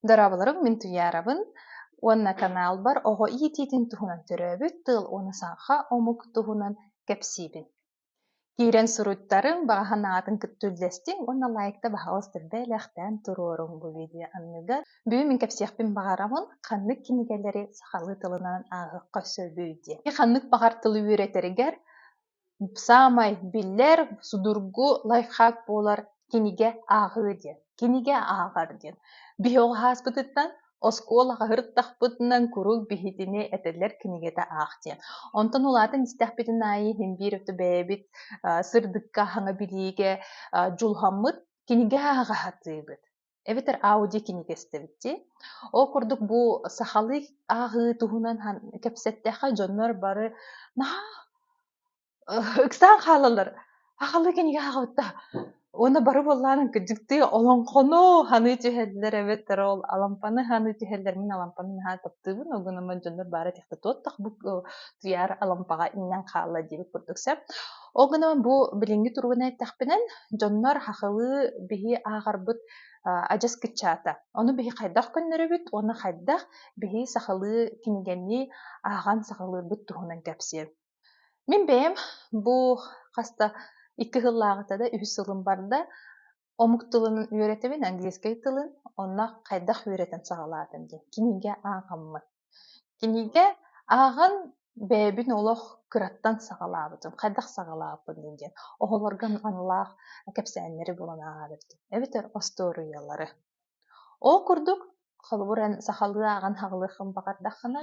Дорооболоруҥ мин Туйаарабын уонна канаалбар оҕо иитиитин туһунан төрөөбүт тыл уонна саха омук туһунан кэпсиибин. Киирэн суруйтарыҥ, баҕа санаатын кытта үллэстиҥ уонна лайкта баһаҕастар бэлэхтээн туруоруҥ бу видео анныгар. Бүгүн мин кэпсиэхпин баҕарабын ханнык кинигэлэри сахалыы тылынан ааҕыахха сөбүй диэн. Ханнык баҕар тылы үөрэтэригэр Саамай биллэр судургу лайфхак буолар «Кинигэ ааҕыы» диэн. «Кинигэ ааҕар» диэн. Биһиэхэ ааспытыттан оскуолаҕа сырыттахпытынан куруук биһитини этэллэр кинигэтэ аах диэн. Онтон улаатан истэхпитин аайы иһин биир өттө бэйэбит сырдыкка, хаҥа билиигэ дьулуһаммыт, кинигэ ааҕа сатыыбыт. эбэтэр аудио кинигэстэбит дии. Ол курдук бу сахалыы ааҕыы туһунан кэпсэттэххэ дьоннор бары наһаа ыксаан хаалаллар. Ахалыы кинигэ ааҕыбыта. Уонна бары буоллаан кырдьыктыы олоҥхону саныы түһэллэр эбэтэр ол алампаны саныы түһэллэр. Мин алампаны наһаа таптыыбын. Огунаммын дьоннор баара тихта туоттах бу туйаар алампаҕа иҥнэн хаалла диэбит курдук сөп. Ол гынан бу билиҥҥи туругун эттэхпинэ, дьоннор хахылыы биһи ааҕарбыт адьас кыччаата. Ону биһи хайдах көннөрөбүт уонна хайдах биһи сахалыы кинигэни ааҕан сахалыырбыт туһунан кэпсиэм. Мин бэйэм бу хас да икки сыллааҕыта да үһүс сылым барда омук тылын үөрэтэбин, английскай тылын, онно хайдах үөрэтэн саҕалаатым диэн кинигэ ааҕаммын. Кинигэ ааҕан бэйэбин олох кыраттан саҕалаабытым, хайдах саҕалааппын диэн диэн оҕолорго аналлаах кэпсээннэри булан ааҕа бэртим эбэтэр остуоруйалары. Ол курдук, холобур, эн сахалыы ааҕан аҕалыаххын баҕардаххына,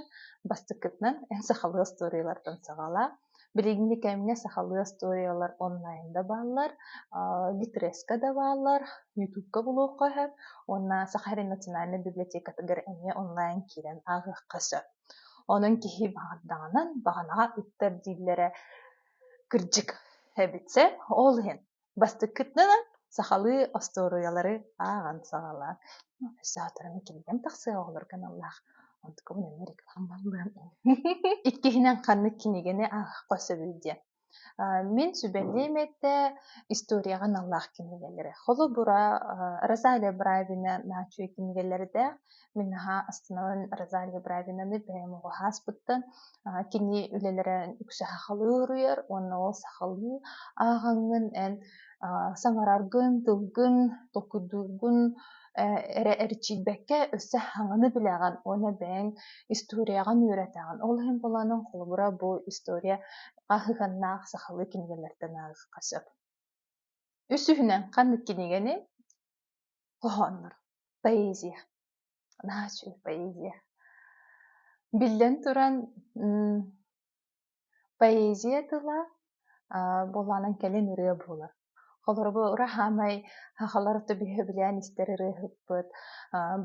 бастакытынан эн сахалыы остуоруйалартан саҕалаа. Билиҥҥи кэмҥэ сахалыы остуоруйалар онлайнда бааллар, Литреска да бааллар, Ютубка булуохха сөп. Уонна Саха сирин национальнай библиотекатыгар эмиэ онлайн киирэн ааҕыахха сөп. Онон киһи баҕардаҕынан баҕанаҕа ыттар дииллэрэ кырдьык эбитсэ ол иһин бастыккытынан сахалыы остуоруйалары ааҕан саҕалаан өссө сотору кинигэм тахсыа оҕолорго аналлаах онтукубун эмиэ реклама бааллыам иккиһинэн ханнык кинигэни аахха сөбүй диэн мин сүбэлиим этэ историяҕа аналлаах кинигэлэри холобура розалия бравина наачуй кинигэлэрдээх Мин наһаа астынан Розалия Бравинаны бэйэм оҕо ааспыттан кини үлэлэрэ үксэ сахалыы уруйар уонна ол сахалыы ааҕаҥҥын эн саҥараргын, тылгын, толкуйдуургун эрэ эрчийбэккэ өссө хаҥаны билэҕин уонна бэйэҥ историяҕын үөрэтэҕин. Ол иһин буолаанын холобура бу история хаһыганнаах сахалыы кинигэлэртэн ааҕыахха сөп. Үсүһүнэн ханнык кинигэни хоһооннор, поэзия, наһаа үчүгэй поэзия. Биллэн туран, поэзия тыла буолаанан кэлин ырыа буолар. Холору ураһаамай хахалар төбүһэ билээн истэр ырыаһыппыт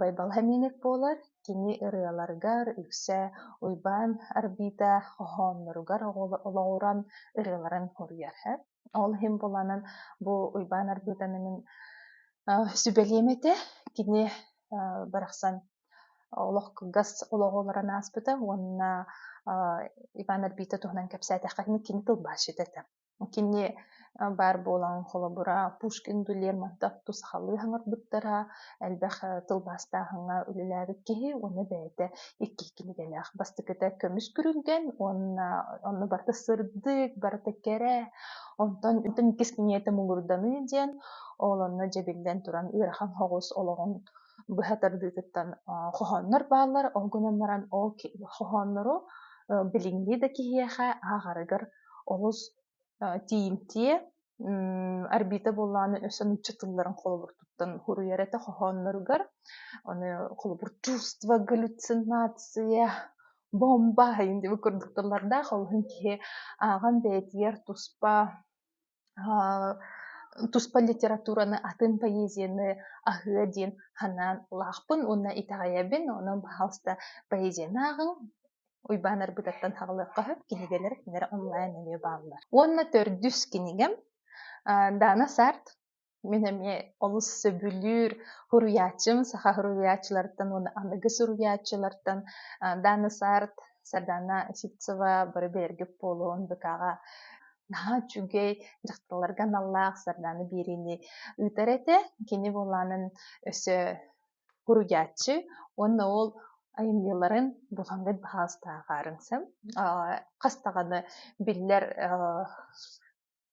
Байбала Миник буолар. Кини ырыаларгар үксэ Уйбаан Арбита хоһоонноругар олоҕуран ырыаларын хоруйар. Ол иһин буланан бу Уйбаан Арбыытаныҥын сүбэлиэм этэ. Кини барахсан олох кылгас олоҕолорун ааспыта уонна Иван Арбита туһунан кэпсээтэххэ ини кини тылбаасчыта этэ. Кини баар буолан холобура Пушкин Дулермонтовту сахалыы хаҥырбыттара элбэх тылбаастааһыҥҥа үлэлээбит киһи уонна бэйэтэ икки кинигэлээх бастакыта көмүс күрүлгэн уонна онно барыта сырдык, барыта кэрэ, онтон иккис киниэтэ муҥурданыы диэн, ол онно дьэбиллэн туран ыарахан соҕус олоҕун быһа тардыытыттан хоһооннор бааллар, ол гынан баран ол хоһооннору билиҥҥи да киһиэхэ ааҕарыгар олус тиийимтиэ орбита буоллаҕына өссө нуучча тылларын холобуртуттан суруйар этэ хоһоонноругар аны холобур чувство галлюцинация бомба диэн курдук тыллардаах ол иһин киһи ааҕан бэйэтигэр туспа туспа литератураны атын поэзияны аһыа диэн санаан лаахпын уонна итэҕэйэбин онон пожалуйста поэзияны ааҕыҥ Уйбаанар быдаттан хаҕылыахха сөп, кинигэлэр кинилэр онлайн эмиэ бааллар. Уонна төрдүс кинигэм Дана Сарт. Мин эмиэ олус сөбүлүүр суруйааччым, саха суруйааччыларыттан уонна аныгы суруйааччылартан Дана Сарт, Сардана Ситцева бары бэргик буолуон быкаҕа наһаа үчүгэй дьахталларга аналлаах Сарданы биэриини ыытар этэ. Кини буолаанын өссө Суруйааччы уонна ол айымньыларын булан билэр баһаалыстааҕы аарыҥсым хас даҕаны биллэр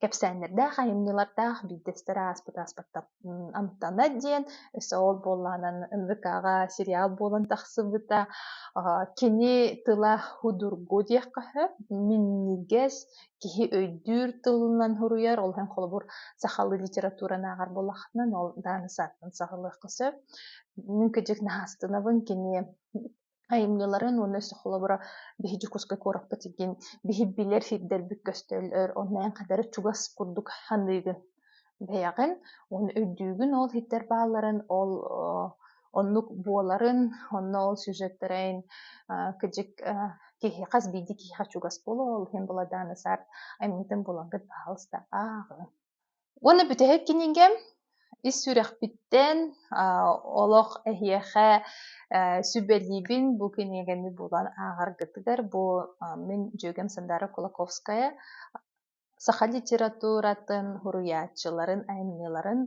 кэпсээннэрдээх айымньылардаах биирдэстэрэ ааспыт ааспаттан амтана диэн өссө ол буоллаҕынан НВК-ҕа сериал буолан тахсыбыта кини тыла судургу диэххэ сөп минньигэс киһи өйдүүр тылынан суруйар, ол иһин холобур сахалыы литератураны ааҕар буоллаххына, ол дааны сааттан саҕалыахха сөп. Мүмкэдик наһаастынабын кини айымньыларын уонна холобура биһи Дьокуускай куораппыт диэн биһи билэр сирдэрбит көстөллөр, онно эн кадары чугас курдук аныыгын бэйэҕин уонна үрдүүгүн ол иһиттэр баалларын ол оннук буоларын онно ол сюжеттэрин кыдьык киһи хас биирдии киһиэхэ чугас буолуо ол иһин буладаана сарт аминтын булангыт баһалыста ааҕын уонна бүтэһик кинигэ ис сүрэхпиттэн олох эһиэхэ сүбэлиибин бу кинигэни булан ааҕаргытыгар бу мин дьүөгэм сандара кулаковская саха литературатын суруйааччыларын айымньыларын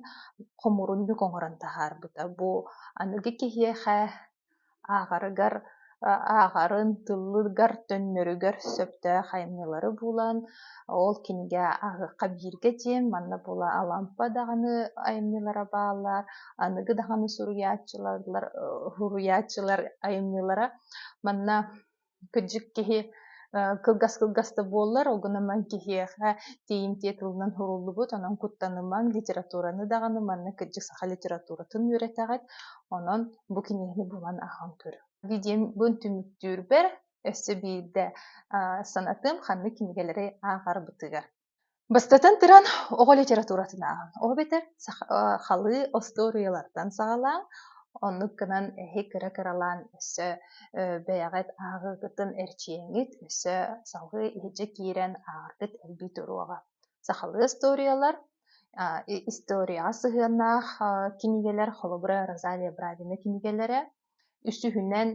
хомуурунньук оҥорон таһаарбыта бу аныгы киһиэхэ ааҕарыгар ааҕарын тыллыгар төннөрүгэр сөптөөх айымньылары булан ол кинигэ ааҕыахха бииргэ диэн манна була алампа даҕаны айымньылара бааллар аныгы даҕаны суруйааччылар суруйааччылар айымньылара манна кыдьык киһи кылгас-кылгас да буоллар, ол гынан киһиэхэ тиийимтиэ тылынан суруллубут, онон куттанымаҥ, литератураны даҕаны манна кыдьык саха литературатын үөрэтэҕит, онон бу киниэни булан аһан көр. Видеобун түмүктүүрбэр өссө биирдэ санатым ханнык кинигэлэри ааҕар бытыгар. Бастатан туран, оҕо литературатын ааҕыҥ. Ол эбэтэр халыы остуоруйалартан саҕалааҥ. Оннук гынан эһи кыра-кыралаан өссө бэйэҕит ааҕыыгытын эрчийиҥҥит өссө салгыы иһирдьэ киирэн ааҕаргыт элбии туруоҕа. Сахалыы остуоруйалар, историяҕа сыһыаннаах кинигэлэр, холобура, Розалия Бравина кинигэлэрэ. Үсүһүнэн,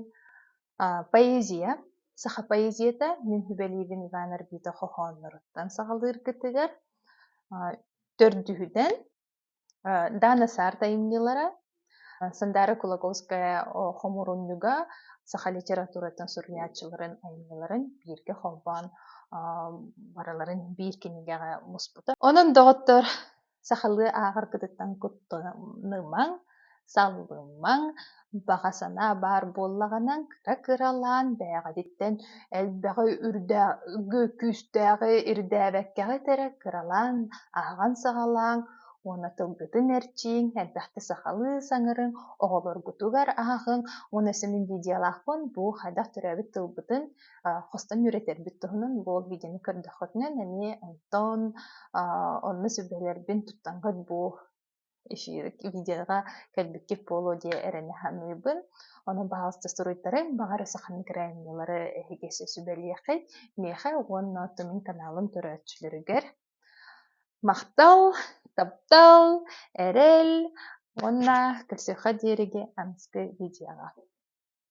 Поэзия, саха поэзията мин сүбэлиибин Иван Арбита хоһоонноруттан саҕалыыргытыгар төрдүһүтэн Дана Саарт айымньылара Сандара Кулаговская хомурунньуга саха литературатын суруйааччыларын айымньыларын бииргэ холбоон барыларын биир кинигэҕэ муспута. Онон доҕоттор сахалыы ааҕаргытыттан куттанымаҥ, саллымаҥ, баҕа санаа баар буоллаҕына кыра-кыралаан бэйэҕититтэн элбэҕи үрдээҕи күүстээҕи ирдээбэккэҕит эрэ кыралаан ааҕан саҕалааҥ уонна тылгытын эрчийиҥ, элбэхтэ сахалыы саҥарыҥ, оҕолоргутугар ааҕыҥ уонна сэмин видеолаахпын бу хайдах төрөөбүт тылбытын хостон үөрэтэрбит туһунан бу видеоны көрдөххүтүнэ эмиэ онтон онно сүбэлэрбин туттаҥҥыт бу видеоҕа кэлбиккит буолуо диye эрэнэ саныыбын. Ону баҕаста суруйтары, баҕар сахан гранилары эһигиси сүбэлиэхэй. Миэхэ уонна Тумин каналым көрөөччүлөрүгэр махтал, таптал, эрэл уонна көрсүөххэ диэриги анскы видеоҕа.